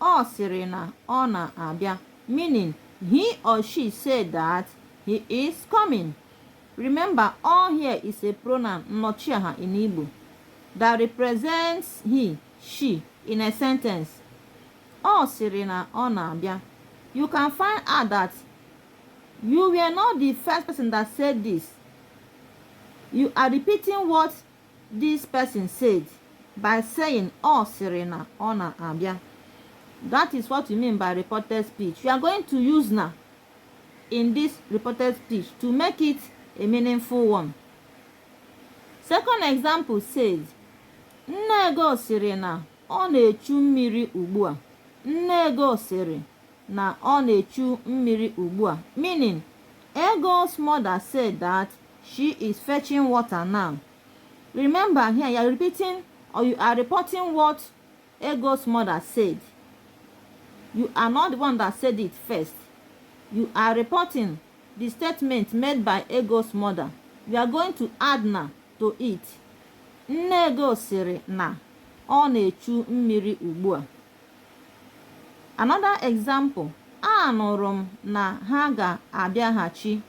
Ọ sịrị na ọ na-abịa, meaning he or she said that he is coming. Remember, all here is a pronoun nnọchiaha in Igbo that represents he, she in a sentence. Ọ sịrị na ọ na-abịa. You can find out that you were not the first person that said this. You are repeating what This person said by saying ọ sịrị na ọ na-abịa. That is what we mean by reported speech. You are going to use na in this reported speech to make it a meaningful one. Second example says, Nne Ego sịrị na ọ na-echu mmiri ugbu a. Nne Ego sịrị na ọ na-echu mmiri ugbu a. Meaning, Ego's mother said that She is fetching water now. Remember here you are repeating or you are reporting what Ego's mother said. You are not the one that said it first. You are reporting the statement made by Ego's mother. You are going to add na to it. Nne Ego sịrị na ọ na-echu mmiri ugbu a. Another example, anụrụ m na ha ga-abịaghachi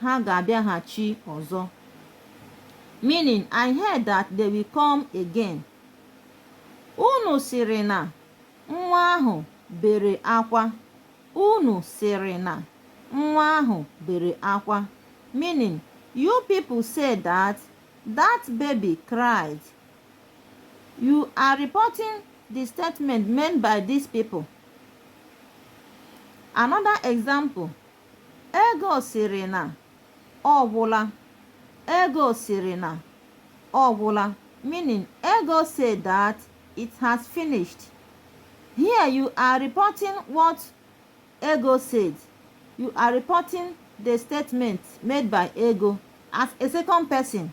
ha ga-abịaghachi ọzọ. Meaning, I heard that they will come again. Unu sịrị na nwa ahụ bere akwa. Unu sịrị na nwa ahụ bere akwa. Meaning, you people said that that baby cried. You are reporting the statement made by these people. Another example. Ego sịrị na ọ gwụla. Ego sịrị na ọ gwụla meaning Ego said that it has finished. Here you are reporting what Ego said. You are reporting the statement made by Ego as a second person.